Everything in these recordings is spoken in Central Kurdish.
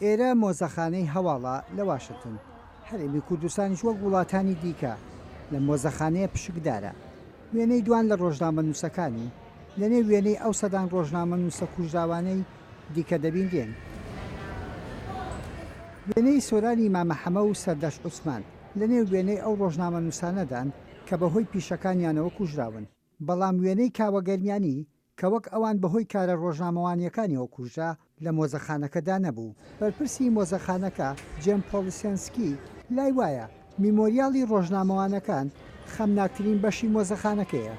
ئێرە مۆزەخانەی هەواڵە لە واشنتن. هەرێمی کوردستانیش وەک وڵاتانی دیکە لەم مۆزەخانەیە پشکدارە. وێنەی دوان لە ڕۆژنامەنووسەکانی، لەنێو وێنەی ئەو سەدان ڕۆژنامەنووسە کوژراوانەی دیکە دەبینرێن. وێنەی سۆرانی مامە حەمە و سەردەشت عوسمان، لەنێو وێنەی ئەو ڕۆژنامەنووسانەدان کە بەهۆی پیشەکانیانەوە کوژراون. بەڵام وێنەی کاوە گەرمیانی، کە وەک ئەوان بەهۆی کارە ڕۆژنامەوانییەکانیەوە کوژرا، لە مۆزەخانەکەدا نەبوو. بەرپرسی مۆزەخانەکە، جێم پۆڵیسێنسکی، لای وایە، میمۆریاڵی ڕۆژنامەوانەکان خەمناکترین بەشی مۆزەخانەکەیە.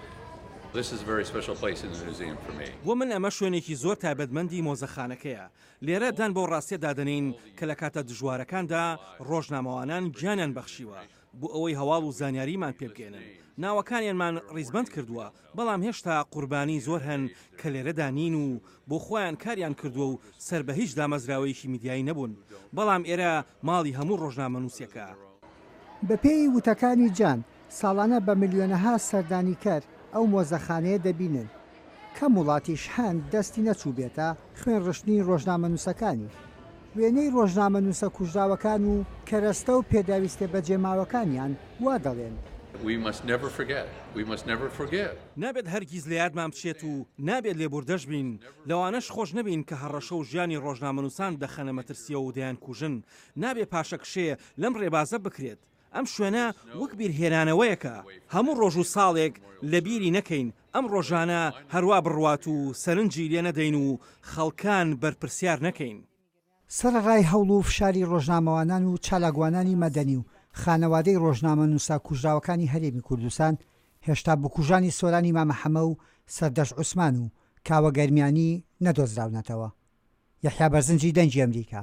بۆ من ئەمە شوێنێکی زۆر تایبەتمەندی مۆزەخانەکەیە. لێرە دان بەو ڕاستییە دادەنێین کە لە کاتە دژوارەکاندا ڕۆژنامەوانان گیانیان بەخشیوە، بۆ ئەوەی هەواڵ و زانیاریمان پێ بگەیەنن ناوەکانیانمان ڕیزبەند کردووە، بەڵام هێشتا قوربانی زۆر هەن کە لێرەدا نین و بۆ خۆیان کاریان کردووە و سەر بە هیچ دامەزراوەیەکی میدیایی نەبوون، بەڵام ئێرە ماڵی هەموو ڕۆژنامەنووسێکە. بەپێی وتەکانی جان، ساڵانە بە ملیۆنەها سەردانیکەر ئەو مۆزەخانەیە دەبینن، کەم وڵاتیش هەن دەستی نەچووبێتە خوێن ڕشتنی ڕۆژنامەنووسەکانی. وێنەی ڕۆژنامەنووسە کوژراوەکان و کەرەستە و پێداویستیە بەجێماوەکانیان وا دەڵێن. We must never forget. We must never forgive. نابێت هەرگیز لەیادمان بچێت و نابێت لێبووردەش بین، لەوانەش خۆش نەبین کە هەڕەشە و ژیانی ڕۆژنامەنووسان دەخەنە مەترسیەوە و دەیانکوژن. نابێ پاشەکشێ لەم ڕێبازە بکرێت. ئەم شوێنە وەک بیرهێنانەوەیەکە هەموو ڕۆژ و ساڵێک لە بیری نەکەین، ئەم ڕۆژانە هەروا بڕوات و سەرنجی لێ نەدەین و خەڵکان بەرپرسیار نەکەین. سەرەڕای هەوڵ و فشاری ڕۆژنامەوانان و چالاکوانانی مەدەنی و خانەوادەی ڕۆژنامەنووسە کوژراوەکانی هەرێمی کوردستان، هێشتا بکوژانی سۆرانی مامە حەمە و سەردەشت عوسمان و کاوە گەرمیانی نەدۆزراونەتەوە. یەحیا بەرزنجی دەنگی ئەمریکا.